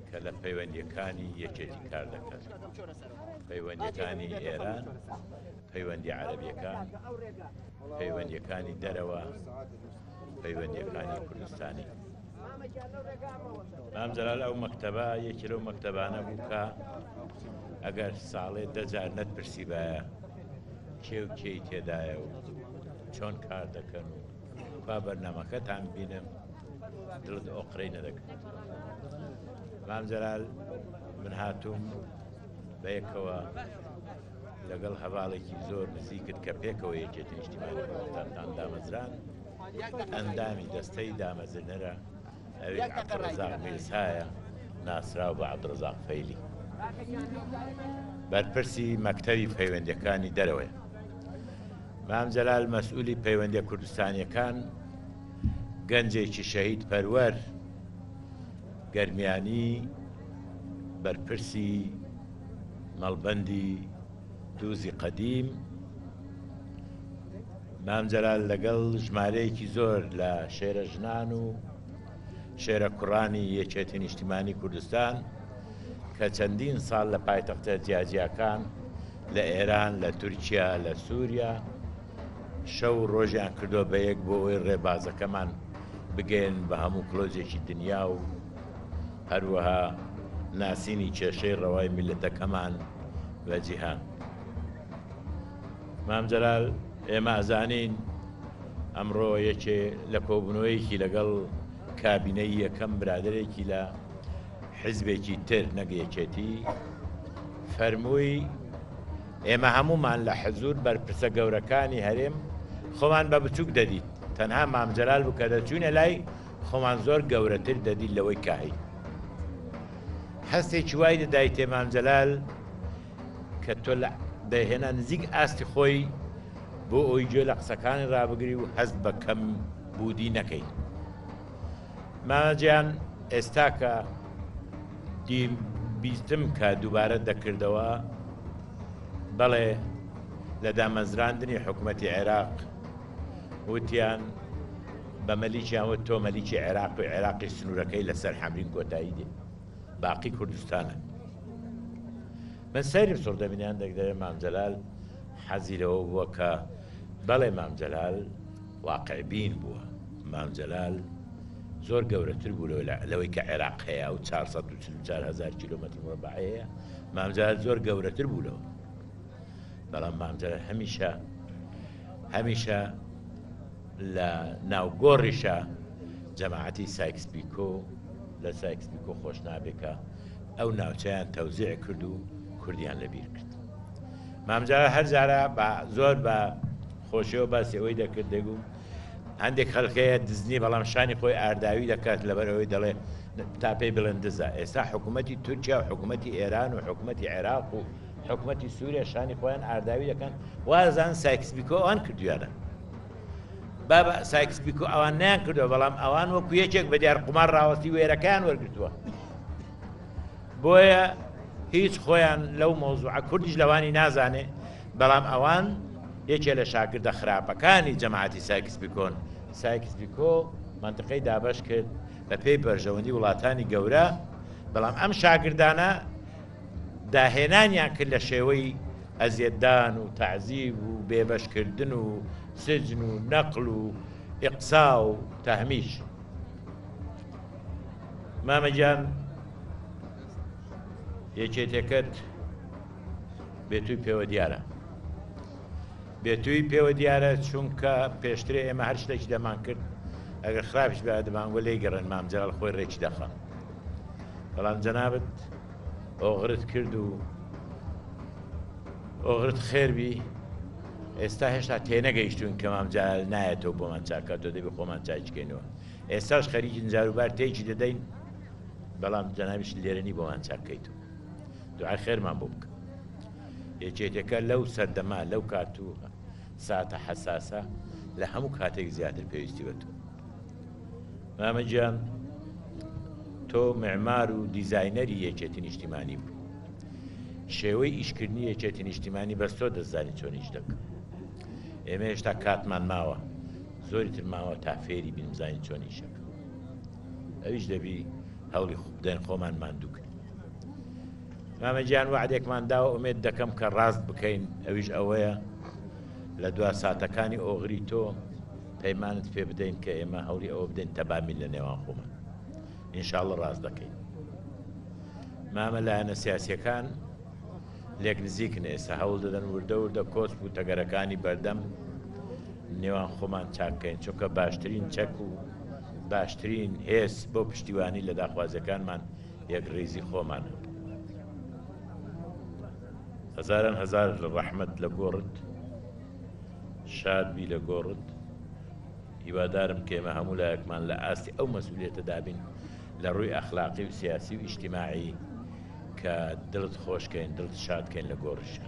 کە لە پەیوەندیەکانی یەکێتی کار دەکات پەیوەندیەکانی ئێران پەیوەندی عربیەکان پەیوەندیەکانی دەرەوە پەیوەندیەکانی کوردستانی مام جەلال ئەو مەکتەبە یەکی لەو مەکتەبانە بوو کە ئەگەر ساڵێ دەجار نەت پرسیبایە کێو کێی تێدایە و چۆن کار دەکەن و با بەرنامەکەتان ببینم دڵت ئۆقرەی نەدەکرد مام جەلال من هاتووم بە یەکەوە لەگەڵ هەواڵێکی زۆر نزیکت کە پێکەوە یەکێتی نیشتیمانی کوردستانتان دامەزران ئەندامی دەستەی دامەزرنەرە ئەوێ عەبدڕەزاق میرسایە ناسراو بە عەبدڕەزاق فەیلی بەرپرسی مەکتەوی پەیوەندەکانی دەرەوەی مام جەلال مەسئولی پەیوەندیە کوردستانیەکان گەنجێکی شەهید پەروەر گەرمیانی بەرپرسی مەڵبەندی دووزی قەدیم مام جەلال لەگەڵ ژمارەیەکی زۆر لە شێرە ژنان و شێرە کوڕانی یەکێتی نیشتیمانی کوردستان کە چەندین ساڵ لە پایتەختە جیاجیاکان لە ئێران لە تورکیا لە سووریا شەو ڕۆژیان کردو بە یەک بۆ ئەوی ڕێبازەکەمان بگەن بە هەموو کلۆزێکی دنیا و هەروەها ناسینی کێشەی ڕەوای میلەتەکەمان بە جیهان. مام جەلال ئێمە ئەزانین ئەمڕۆ یەکێ لە کۆبوونەوەیەکی لەگەڵ کابینەی یەکەم برادێکی لە حزبێکی تر نەگەیەکێتی فەرمووی ئێمە هەمومان لە حەزور بەرپرسە گەورەکانی هەرێم خۆمان بە بچووک دەدیت تەنها مامجلال بکە دەچوینە لای خۆمان زۆر گەورەتر دەدیت لەوەی کاهی هەستێکی وای دەدایتێ مامجلال کە تۆ لە دەیهێنا نزیک ئاستی خۆی بۆ ئەوی گوێ لە قسەکانی ڕابگری و هەست بە کەم بودی نەکەی مامەجیان ئێستا کە بیستم کە دووبارە دەکردەوە بەڵێ لە دامەزراندنی حکوومەتی عێراق وتیان بە مەلیکیان وت تۆ مەلیکی عێراق و عێراقی سنوورەکەی لەسەر حەمرین کۆتایی دێ باقی کوردستانن من سەیرم سڕ دەبینیان دەک دەێ مامجلال حەزی لەوە بووە کە بەڵێ مامجلال واقعبین بووە مامجلال زۆر گەورەتر بوو لەوەی کە عێراق هەیە و 440هزار کیلومتر ڕبعەیە مامجار زۆر گەورەتر بوو لەوە بەڵام مامجار هەمیشە هەمیشە لە ناو گۆڕیشە جەماعەتی سایکس بیکۆ لە سایکس بیکۆ خۆش نابێ کە ئەو ناوچەیان تەوزیع کرد و کوردیان لەبیر کرد مامجا هەر جارە بە زۆر بە خۆشیەوە باسی ئەوەی دەکرد دەگوم هەندێک خەلکەیە دزنی بەڵام شانی خۆی ئارداوی دەکات لەبەر ئەوەی دەڵێ تا پێی بڵێن دزە ئێستا حکوومەتی تورکیا و حکوومەتی ئێران و حکوومەتی عێراق و حکوومەتی سووریا شانی خۆیان ئارداوی دەکەن وازان سایکس بیکۆ ئەوان کردویانە بابە سایکس پیکۆ ئەوان نیان کردووە بەڵام ئەوان وەکو یەکێک بە دیار قومار ڕاوەستی وێرەکەیان وەرگتووە بۆیە هیچ خۆیان لەو مۆزوعە کوردیش لەوانی نازانێ بەڵام ئەوان یەکێ لە شاگردە خراپەکانی جەماعەتی سایکس پیکۆن سایکس پیکۆ منطقەی دابش کرد بە پێی بەرژەوەندی وڵاتانی گەورە بەڵام ئەم شاگردانە داهێنانیان کرد لە شێوەی ئەزیەتدان و تەعزیب و بێبەشکردن و سجن و نەقل و ئیقسا و تەهمیش مامەگیان یەکێتەکەت بێتوی پێوە دیارە بێتوی پێوە دیارە چونکە پێشترێ ئێمە هەر شتێکی دەمان کرد ئەگەر خراپش بە دەمانگوە لی گەڕێن مامجارال خۆی ڕێکی دەخە بەڵام جەنابەت ئۆغرت کرد و ئۆغرت خێربی ئێستا هێشتا تێنەگەیشتون کە مام جەلال نایەتەوە بۆمان چاکاتەوە دەبی خۆمان چاککەینەوە ئێستاش خەریکی جاروبار تێکی دەدەین بەڵام جەناویش لێرەنی بۆمان چاککەیتەوە دوعای خێرمان بۆ بکە یەکێتەکە لەو سەردەما لەو کاتوو ساتە حەساسە لە هەموو کاتێک زیاتر پێویستی بە تۆ مامە گیان تۆ معمار و دیزاینەری یەکێتی نیشتیمانی بوو شێوەی ئیشکردنی یەکێتی نیشتیمانی بەس تۆ دەزانی چۆن ئیش دەکە ئێمە هێشتا کاتمان ماوە زۆری تر ماوە تا فێری بینزانین چۆن ئیشەکە ئەویش دەبی هەوڵی خوبدەن خۆمان ماندوو کرد مامە گیان وعدێکمان داوە ئومێت دەکەم کە ڕاست بکەین ئەویش ئەوەیە لە دوا ساتەکانی ئۆغری تۆ پەیمانت پێ بدەین کە ئێمە هەولی ئەوە بدەین تەبامی لە نێوان خۆمان ئینشااللە ڕاست دەکەین مامە لایەنە سیاسەکان لێک نزیکن ئێستا هەوڵ دەدەن وردە وردە کۆسپ و تەگەرەکانی بەردەم نێوان خۆمان چاککەین چونکە باشترین چەک و باشترین هێز بۆ پشتیوانی لە داخوازەکانمان یەک ڕێزی خۆمانە هەزاران هەزار لە ڕەحمت لە گۆڕت شاد بی لە گۆڕت هیوادارم کە ئێمە هەموو لایەکمان لە ئاستی ئەو مەسوولێتە دابین لە ڕووی ئەخلاقی و سیاسی و ئیشتیماعی کە دڵت خۆشکەین دڵت شادکەین لە گۆڕشە